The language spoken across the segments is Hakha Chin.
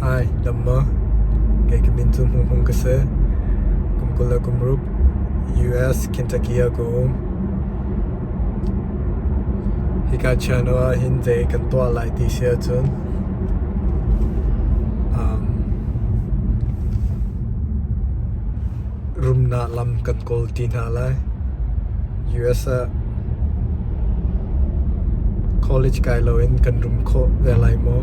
Hi, damma. Kei ka min cu Hmung Hmung ka si. Kum kul le kum rup US Kentucky ah ka um. Hika channel ah hin zei kan tuah lai ti si ahcun rumnak lam kan kawl ti hna lai. US ah college kai loin kan rum khawh ve lai maw?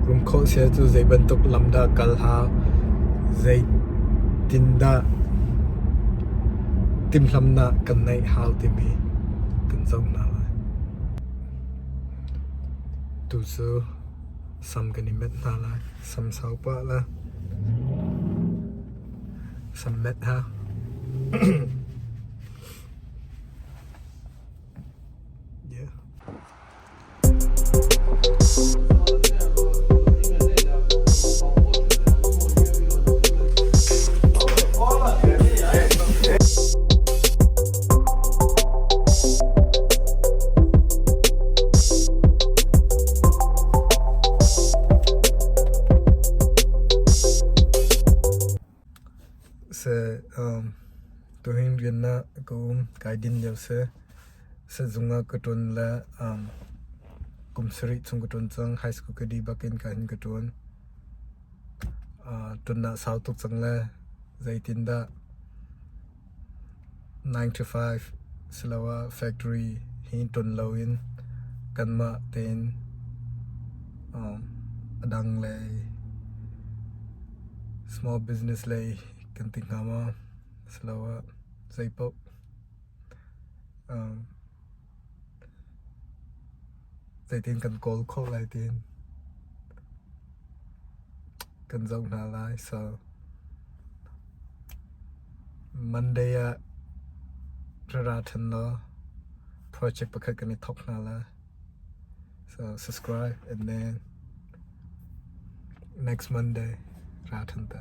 Rum khawh sial cu zei bantuk lam dah kal ha? Zei tin dah timhlamnak kan neih hau timi kan zoh hna lai. Tu cu sam kan i met hna lai. Sam sau pah la. Sam met hna. se um to hin rian na ka um kai din leo se se zunga ka ton la um kum sari chung ka ton chang high school ka di bakin ka hin ka ton uh ton na sau tuk chang le zeitin da Nine to five siloah factory hi ton loin kanmah tein a dang lei small business lei kan ti hnga maw siloah zeipaoh. Zeitin kan kawl khawh lai tiin kan zoh hna lai. So, Monday ah rara ṭhen law project pakhat kan i thawk hna lai. So, subscribe and then next Monday ra ṭhen ta.